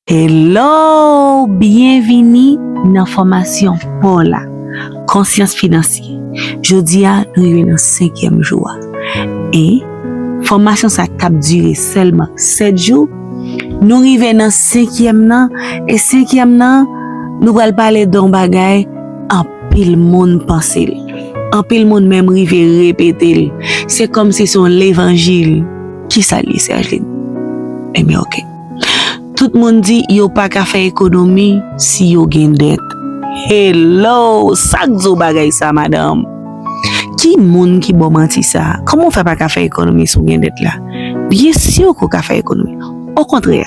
Hello! Byenvini nan fòmasyon paw la, Konsyans Finansye. Jodi a nou rive nan senkyèm jou a. E, fòmasyon sa k tap dire sèlman 7 jou, nou rive nan senkyèm nan, e senkyèm nan, nou pral pale de yon bagay anpil moun panse l, anpil moun menm rive repete l, se kòmsi se yon levanjil. Kisa l ye Sergeline? Enben ok. Tout moun di yo pa ka fè ekonomi si yo gen dèt. Hello! Sa k di w bagay sa a, madanm? Ki moun ki ba w manti sa a? Kòman w fè pa ka fè ekonomi si w gen dèt la? Byen si ke w ka fè ekonomi. Okontrè,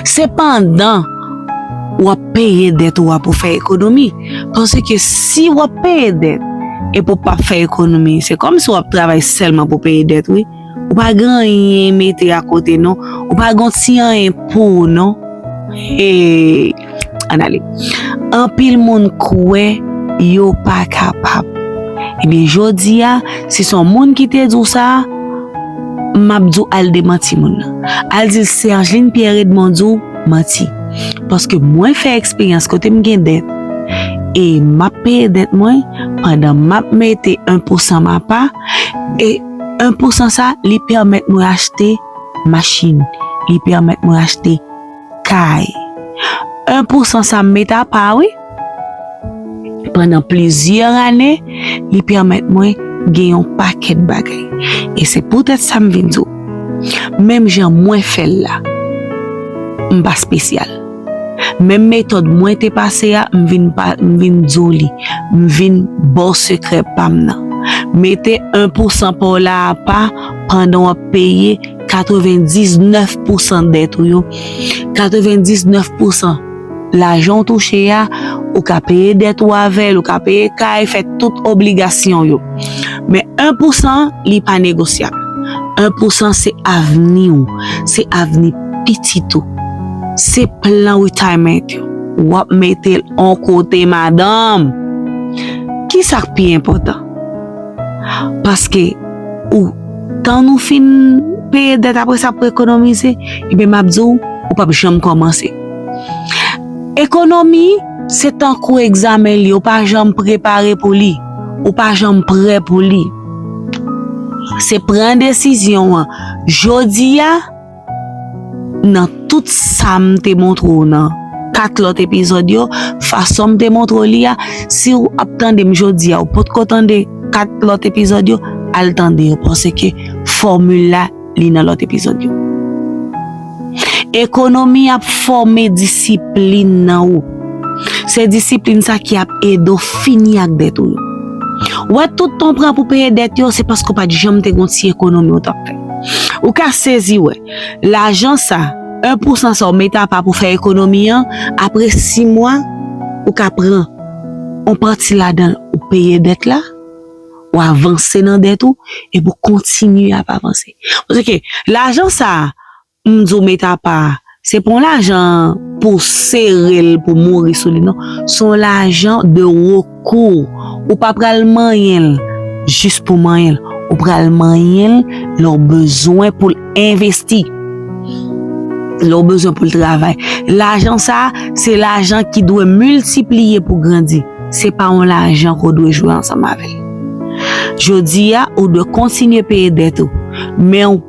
se pandan w ap peye dèt ou a pou w fè ekonomi. Paske si w ap peye dèt epi w pap fè ekonomi, se kòmsi w ap travay sèlman pou w peye dèt wi. Ou pa gen anyen mete a kote non. Ou pa gen ti anyen pou ou non. Hey! Ann ale. Anpil moun kwè yo pa kapab. Ebyen jodi a, si son moun ki te di w sa, m ap di w al demanti moun nan. Al di l Sergeline Pierre Edmond di w manti. Paske mwen fè eksperyans kote m gen dèt e m ap peye dèt mwen pandan m ap mete 1 pousan m apa e 1 pou 100 sa li pèmèt mwen achte machin, li pèmèt mwen achte kay. 1 pou 100 sa m met apa wi, pandan plizyè ane li pèmèt mwen gen yon pakèt bagay. E se poutèt sa m vin di w, menm jan mwen fè l la, m pa spesyal. Menm metòd mwen te pase a m vin pa m vin di w li, m vin ba w sekrè pa m nan. Mete 1 pousan pa w la apa pandan w ap peye 99 pousan dèt ou yo. 99 pousan lajan w touche a, ou ka peye dèt ou avè l, ou ka peye kay, fè tout obligasyon w yo. Men 1 pousan an, li pa negosyab. 1 pousan se avni w, se avni. pitit ou se plan retirement ou wap mete l on kote madanm ki sak pi enpotan paske ou tan nou fin peye dèt apre sa pou ekonomize ebyen map di w ou pap janm komanse ekonomi se tankou egzamen li ou pa janm prepare pou li ou pa janm prè pou li se pran desizyon an jodi a. Nan tout sa m te montre w nan 4 lòt epizòd yo, fason m te montre w li a, si w ap tande m jodi a ou potko tande 4 lòt epizòd yo, al tande yo paske fòmil la li nan lòt epizòd yo. Ekonomi ap fòme disiplin nan ou. Se disiplin sa ki ap ede w fini ak dèt ou yo. Wè tout tan w pran pou peye dèt yo se paske w pa t janm te gen yon ti ekonomi w t ap fè. Ou ka sezi wè, lajan sa, 1 pousan sa ou mete apa pou fè ekonomi an, apre 6 mwa, ou ka pran yon pati ladan l ou peye dèt la, ou avanse nan dèt ou, epi ou kontinye ap avanse. Paske lajan sa, M di w met apa, se pa yon lajan pou w sere l pou w mouri sou li non. Se yon lajan de rekou. Ou pa pral manyen l jis pou w manyen l. Ou pral manyen l lè w bezwen pou l envesti, lè w bezwen pou l travay. Lajan sa a, se lajan ki dwe miltipliye pou grandi. Se pa yon lajan ke w dwe jwe ansanm avè l. Jodi a, ou dwe kontinye peye dèt ou, men w.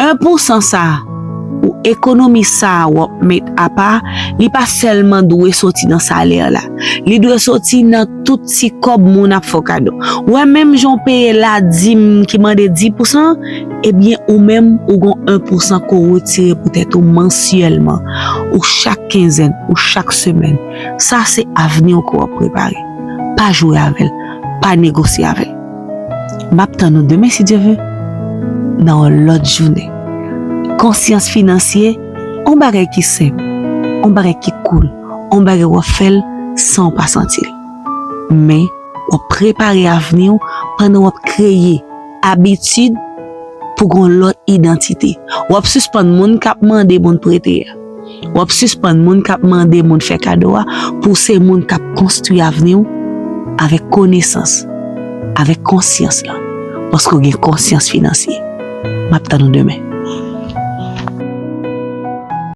1 pou san sa a, ou ekonomi sa a w ap met apa, li pa sèlman dwe soti nan salè la. Li dwe soti nan tout ti kòb moun ap fè w kado. Ou wè menm jan w peye ladim ki mande 10 pou san, ebyen ou menm ou gen 1 pou san ke w retire pou tèt ou mansyèlman, ou chak kenzèn, ou chak semèn. Sa se avni w ke w ap prepare. Pa jwe avè l. Pa negosye avè l. Map tann ou demen si Dye ve nan yon lòt jounen. Konsyans finansye on bagay ki senp, on bagay ki koul, on bagay wap fèl san ou pa santil. Men wap prepare avni ou pandan wap kreye abitid pou gon lòt idantite. Wap sispann moun kap mande moun prete a. Wap sispann moun kap mande moun fè kado a pou se moun kap konstwi avni w avèk konesans, avèk konsyans lan paske w gen konsyans finansye. Map tann ou demen.